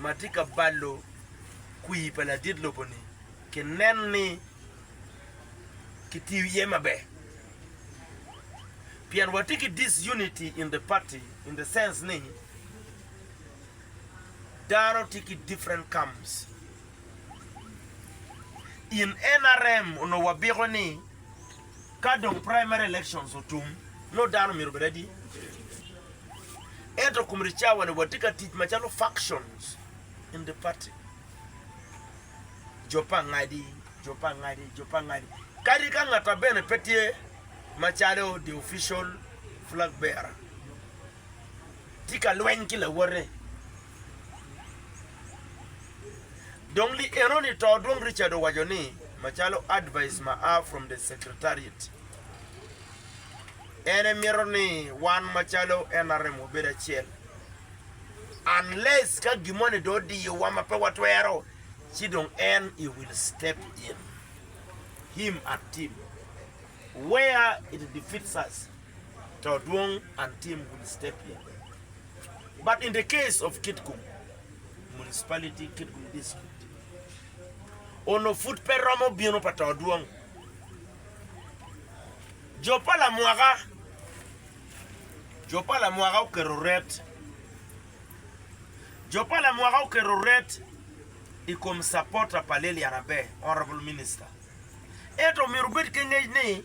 ma tye ka balo kwir pa ladit lobo-ni kinen ni kitiyo iye maber. Pien watye ki disunity in the party in the sense ni dano tye ki different camps. In NRM onongo wabiko ni. Ka dong primary elections otum, nongo dano myero obed adi? Ento kum ricawa-ni, watye ka tic macalo factions in the party. Jo pa angadi, jo pa angadi, jo pa angadi. Kadi ka ngatta bene pe tye macalo the official flag bearer, tye ka lweny ki lawote. Dong li enoni to dong Richard owaco ni macalo advice ma aa from the secretariat en emito ni wan macalo nrm wabed acel unless ka gimoni dong odiyowa ma pe watwero ci dong en he will step in him and team where it defeats us. to dwong an tim would step in but in the case of kitgum municipality kitgum district ono pud pe romo bino pa to dwong jo pa lamwaka jo pa lamwaka oketo ret jo pa lamwaka oketo ret i kom supporter pa lilian aber honorable minister ento myero obed ki ngec ni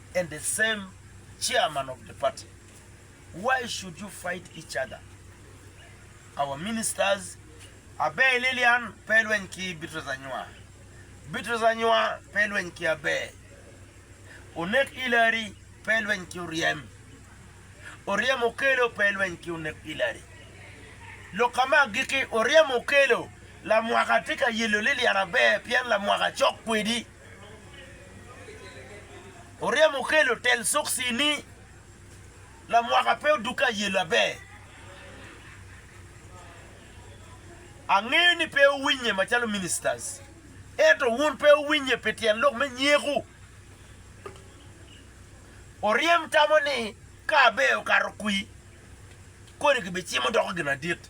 and the same chairman of the party why should you fight each other our ministers Abbey Lillian pe ilweny ki Beatrice Anywa Beatrice Anywa pe ilweny ki Abbey Onek Hillary pe ilweny ki Oryem Oryem Okello pe ilweny ki Onek Hillary lok ka ma agikki Oryem Okello lamwaka tye ka yelo Lillian Abbey pien lamwaka cok kwedi. Oryemo kelo tel sokci ni lamwaka pe odukke aye laber. Angeyo ni pe wuwinye macalo ministers, ento wun pe wuwinye pi tyen lok me nyeku. Oryem tamo ni ka aber okato kwi, kodi kibicimo doko gin adit.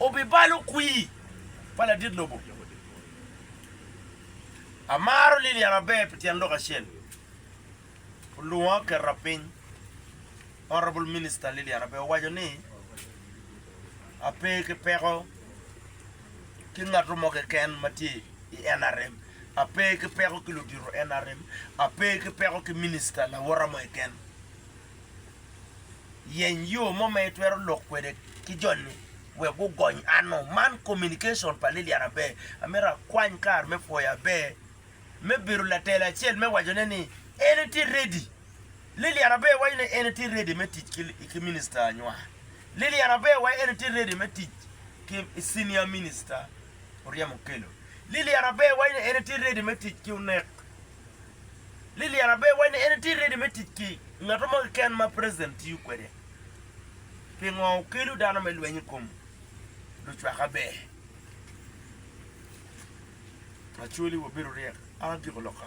Obibalo kwir pa ladit lobo. Amaro Lilian maber pi tyen lok acel. Olunga oketa piny. Honourable Minister Lilian Abe owaco ni, Ape ki peko ki ngato mo keken ma tye i nrm, ape ki peko ki ludito nrm, ape ki peko ki Minister lawota mo keken. Yeny yo mo ma itwero lok kwede ki joni wek gugony anno. Man communication pa Lilian Aber. Amito akwany kar me pwoyo Aber me bedo latelo acel me wacone ni en etye ready. Lilian Aber waco ni en etye ready me tic ki Minister Anywar. Lilian Aber waco en etye ready me tic ki Senior Minister Oryem Okello. Lilian Aber waco ni en etye ready me tic ki Onek. Lilian abe wacci en tye ready me tic ki ngat mo keken ma president tiyo kwede pingo okelu dano me lweny ikom lucwak aber. Acholi wabedo ryek a giko loka.